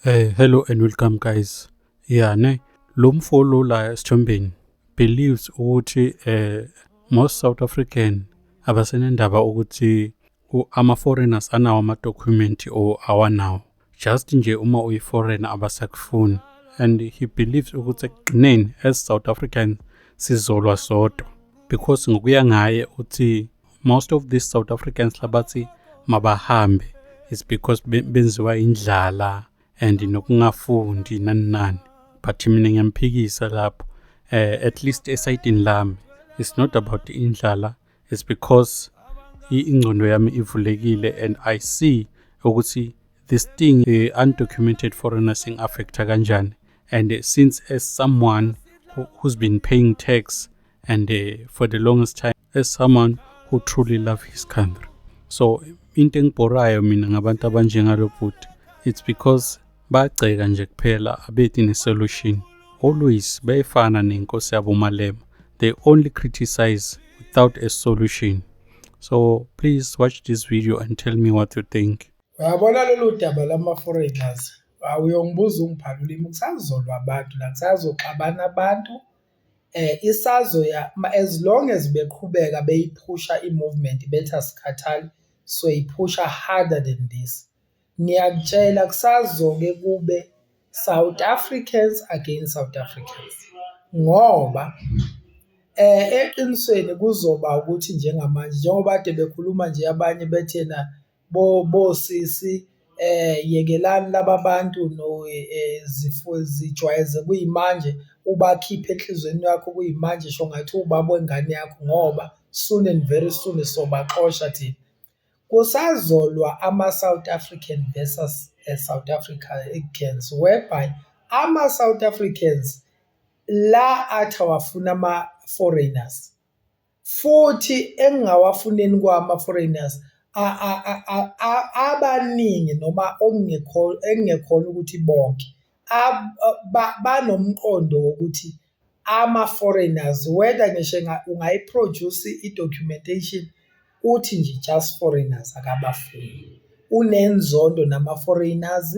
Eh hello and welcome guys. Yeah ne lo mfo lo la esithombeni believes ukuthi eh most South African abasenendaba ukuthi ama foreigners anawo ama document or awanawo. Just nje uma uyi foreigner abasakufuni and he believes ukuthi ekugcineni as South Africans sizolwa sodwa because ngokuya ngaye uthi most of these south africans labathi mabahambe is because benziwa indlala and nokungafundi nani nani but mina ngiyamphikisa lapho uh, at least esayidini lami it's not about indlala it's because ingcondo yami ivulekile and i see ukuthi this thing the uh, undocumented foreigner sing affecta kanjani and uh, since as someone who, who's been paying tax and uh, for the longest time as someone who truly love his country so into engibhorayo mina ngabantu abanjengalo bhuti it's because bagceka nje kuphela abethi ne-solution always beyifana nenkosi yabo malema they only criticize without a solution so please watch this video and tell me what you think uyabona lolu daba lama-foreigners awuyongibuza ungiphalulimi kusazolwa abantu la kusazoxabana abantu Isazoya as long as beqhubeka beyiphusha i-movement bethi asikhathali soyiphusha harder than this, ngiyakutshela kusazoke kube South Africans against South Africans ngoba eqinisweni kuzoba ukuthi njengamanje njengoba kade bekhuluma nje abanye bethi ena. bosisi yekelani laba bantu zijwayeze kuyimanje ubakhiphe enhlizweni yakho kuyimanje sho ngathi uwubaba wengane yakho ngoba soon and very soon sobaxosha thina. Kusazolwa ama-South African versus South Africans whereby ama-South Africans la athi awafuni ama-foreigners. futhi engingawafuneni kwama foreigners abaningi noma okungekho engingekhona ukuthi bonke banomqondo wokuthi ama foreigners whether ngisho ungayi produce i documentation uthi nje just foreigners akabafuni unenzondo nama foreigners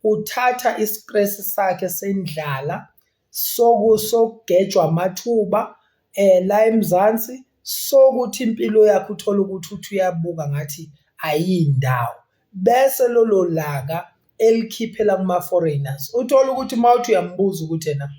uthatha i stress sakhe sendlala sokusogejwa amathuba eh la eMzansi sokuthi impilo yakhe uthola ukuthi uthi uyabuka ngathi ayindawo bese lolo laka elikhiphela kuma foreigners uthola ukuthi mawuthi uyambuza ukuthi yena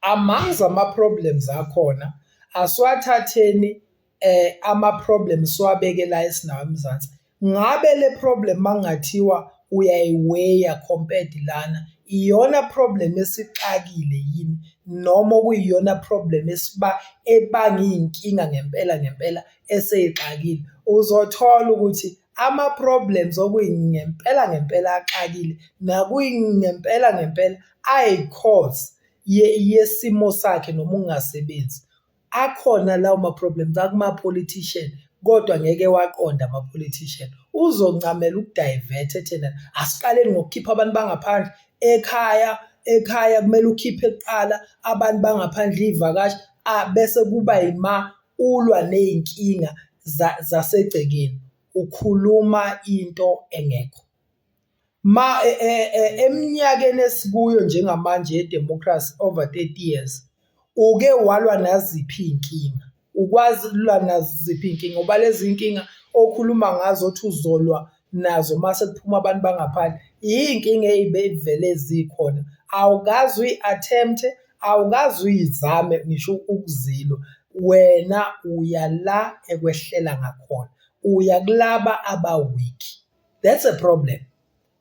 amongst ama problems akhona asiwathatheni eh ama problems siwabeke la esinawo eMzansi ngabe le problem mangathiwa uyayiweya compared lana iyona problem esixakile yini noma kuyiyona problem esiba ebanga inkinga ngempela ngempela eseyixakile uzothola ukuthi ama problems okuyingempela ngempela axakile nakuyingempela ngempela ayi cause yesimo sakhe noma ungasebenzi akhona lawo ma problems akuma politician kodwa ngeke waqonda ama politician uzoncamela ukudivert ethena asiqaleni ngokukhipha abantu bangaphandle ekhaya ekhaya kumele ukhiphe kuqala abantu bangaphandle ivakashi bese kuba yima ulwa nezinkinga zasegcekeni ukhuluma into engekho Ma e, e, e, eminyakeni esikuyo njengamanje yedemocracy over 30 years uke walwa naziphi iy'nkinga ukwazi ukulwa naziphi iy'nkinga ngoba lezi nkinga okhuluma ngazo othi uzolwa nazo uma sekuphuma abantu bangaphandle iy'nkinga ey'beyivele zikhona awukazi uyi-attempt-e awukazi uyizame ngisho ukuzilwa wena uya la ekwehlela ngakhona uya kulaba abawiki that's a problem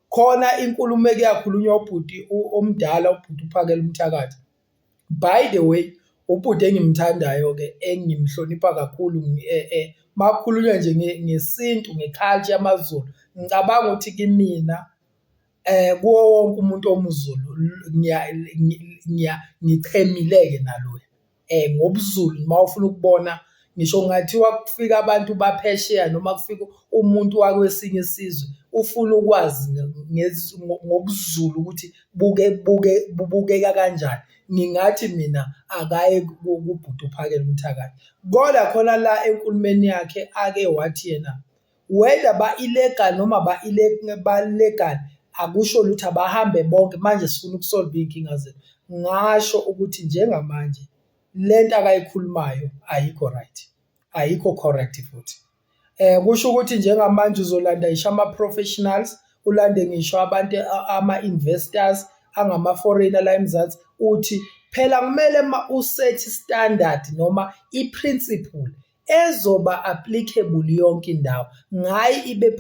khona inkulumo ekuyakhulunywa ubhuti omdala ubhuti uphakela umthakathi by the way ubhuti engimthandayo ke engimhlonipha kakhulu e, e, makukhulunywa nje ngesintu ngeculture yamazulu ngicabanga ukuthi kimina eh kuwo wonke umuntu omuzulu ngiya ngiya ngichemileke naloya um ngobuzulu uma ufuna ukubona ngisho kungathiwa kufika abantu baphesheya noma kufika umuntu wakwesinye isizwe ufuna ukwazi ngobuzulu ukuthi buke buke bubukeka kanjani ngingathi mina akaye kubhuti uphakele umthakathi kodwa khona la enkulumeni yakhe ake wathi yena whether ba-illegal noma ba-legal akusho lutho abahambe bonke manje sifuna ukusolva iy'nkinga zethu ngasho ukuthi njengamanje le nto akayikhulumayo ayikho right ayikho correct futhi um kusho ukuthi njengamanje uzolanda ngisho ama-professionals ulande ngisho abantu ama-investors angama-foreigner la emzansi uthi phela kumele uma usethi standard noma i-principle ezoba applicable yonke indawo ngayi ibe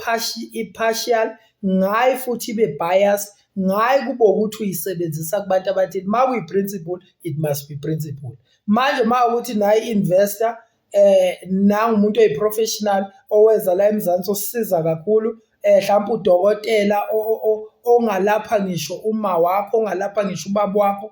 partial ngayi futhi ibe biased ngayi kube ukuthi uyisebenzisa kubantu abathile uma kuyi-principle it must be principle manje uma ukuthi nayi investor eh nangumuntu oyiprofessional oweza la eMzansi osisiza kakhulu eh mhlawumbe udokotela ongalapha ngisho uma wakho ongalapha ngisho ubaba wakho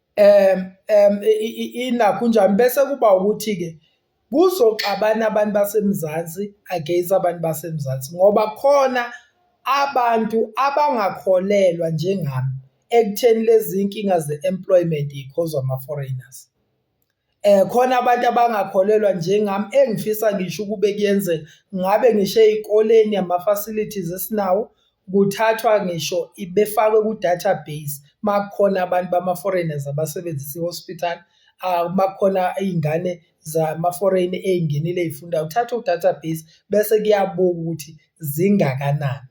um um inakho unjani bese kuba ukuthi-ke kuzoxabana abantu baseMzansi against abantu baseMzansi ngoba khona abantu abangakholelwa njengami ekutheni lezi nkinga ze-employment yi-cause ama-foreigners. Eh khona abantu abangakholelwa njengami engifisa ngisho ukube kuyenzeka ngabe ngisho ezikoleni ama facilities esinawo kuthathwa ngisho ibefakwe ku database makukhona abantu bama foreigners abasebenzisa ihospital ah, makukhona izingane zama foreign ezingenile ezifunda uthatha u database bese kuyabuka ukuthi zingakanani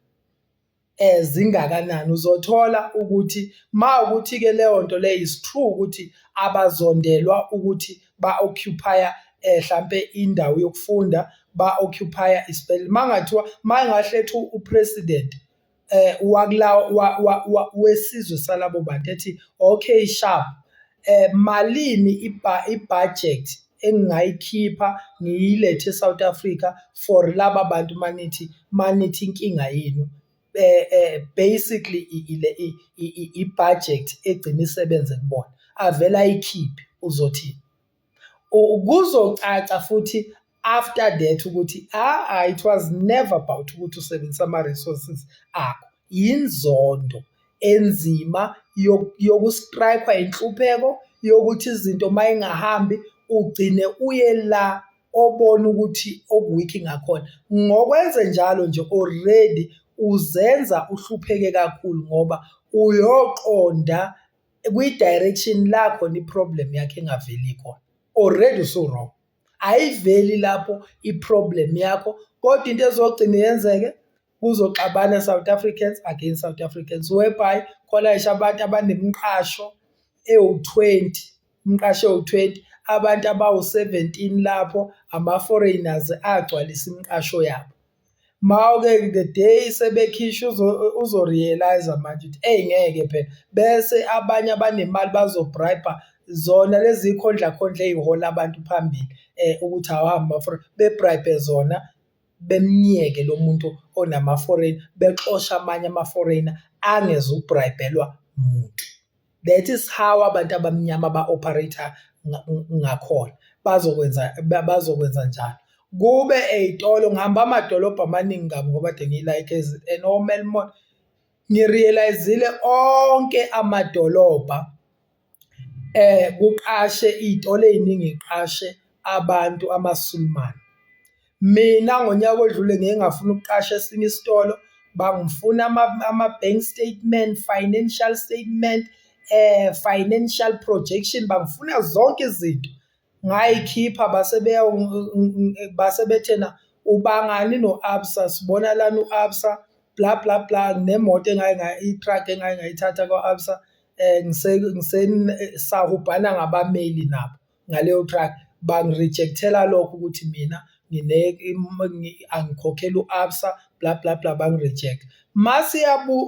ezingakanani uzothola ukuthi mawukuthi-ke leyo nto leyo is true ukuthi abazondelwa ukuthi ba-occupya eh, hlampe indawo yokufunda ba-occupya isibhedlela mangathiwa mayengahletha upresident eh wakulawo wesizwe salabo bantu ethi okay sharp eh malini ibudget engingayikhipha ngiyilethe eSouth Africa for laba bantu manithi manithi inkinga yenu eh, eh basically ile ibudget egcina isebenze kubona avela ayikhiphe uzothi kuzocaca futhi after that ukuthi ah, ah it was never about ukuthi usebenzisa ama resources akho inzondo enzima yokustrikwa inhlupheko yokuthi izinto mayingahambi ugcine uye la obona ukuthi okuwiki ngakhona ngokwenze njalo nje already uzenza uhlupheke kakhulu ngoba uyoqonda kwi-direction lakho i-problem yakho engaveli khona already usu-wrong ayiveli lapho i-problem yakho kodwa into ezogcina yenzeke kuzoxabana South Africans against South Africans whereby khona isho abantu abanemiqasho ewu-20 umqasho ewu-20 abantu abawu-17 lapho ama-foreigners agcwalisa imiqasho yabo Mawuke the day sebekhishwa uzo-realise-a manje ukuthi eyi ngeke phela bese abanye abanemali bazo-bribe-a zona lezi khondlakhondla ezihola abantu phambili ukuthi awuhambe bafuna be-bribe zona bemyeke lo muntu onama-foreign bexoshe amanye ama-foreigner angezuku-bribe-lwa muntu. that is how abantu abamnyama ba operator ngakhona bazokwenza bazokwenza njalo kube ezitolo ngihamba amadolobha amaningi kabi ngoba de ngiyilike and omelmon ngirealizile onke amadolobha eh kuqashe izitolo eziningi iqashe abantu amasulumane Mina ngonyaka odlule ngeke ngafuna ukuqasha esinye isitolo bangifuna ama-bank statement financial statement eh financial projection bangifuna zonke izinto ngayikhipha base beya base bethena ubangani no-absa sibona lana u-absa bla bla bla nemoto engaye ngayo i-truck engaye ngayithatha kwa-absa um ngisahubhana ngabameli nabo ngaleyo truck bangi-reject-ela lokho ukuthi mina angikhokhela u-absa bla bla bla bangi-reject mase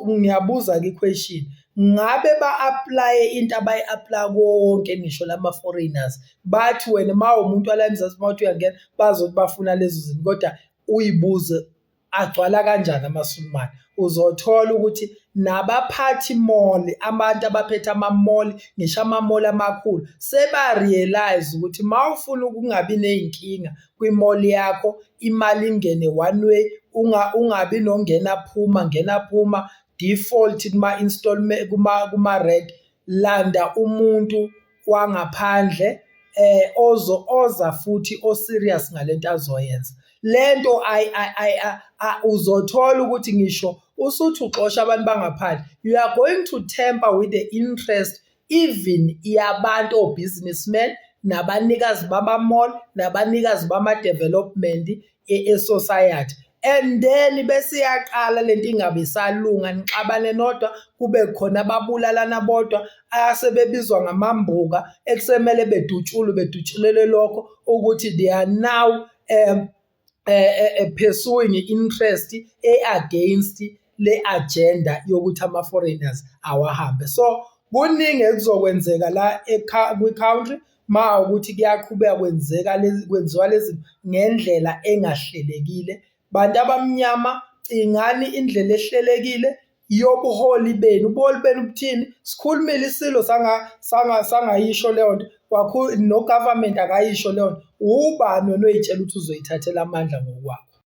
ngiyabuza kwi-question ngabe ba-aplaye into abayi-aplaya konke ngisho lama-foreigners bathi wena uma uwumuntu wala eMzansi mawuthi uyangena bazothi bafuna lezo zinto kodwa uyibuze. agcwala kanjani amaSulumane uzothola ukuthi nabaphathi mall abantu abaphethe amamall ngisho amamall amakhulu seba realize ukuthi mawufuna ukungabi nezinkinga kwimall yakho imali ingene one way unga ungabi nongena phuma ngena phuma default kuma installment kuma kuma rent landa umuntu wangaphandle eh ozo oza futhi o serious ngalento azoyenza lento ay ay uzothola ukuthi ngisho usuthi uxosha abantu bangaphandle you are going to temper with the interest even yabantu o businessmen nabanikazi bama mall nabanikazi bama development esociety and then bese iyaqala lento ingabe isalunga nixabane nodwa kube khona ababulalana bodwa asebebizwa ngamambuka ekusemele bedutshulwe bedutshulele lokho ukuthi they are now um uh, pursuing interest e-against le agenda yokuthi ama foreigners awahambe so kuningi ekuzokwenzeka la kwi country ma ukuthi kuyaqhubeka kwenzeka lezi kwenziwa lezi ngendlela engahlelekile bantu abamnyama cingani indlela ehlelekile yobuholi benu ubuholi benu buthini sikhulumile isilo sanga sanga sangayisho leyo nto kwakhulu no government akayisho leyo nto ubani wena oyitshela ukuthi uzoyithathela amandla ngokwakho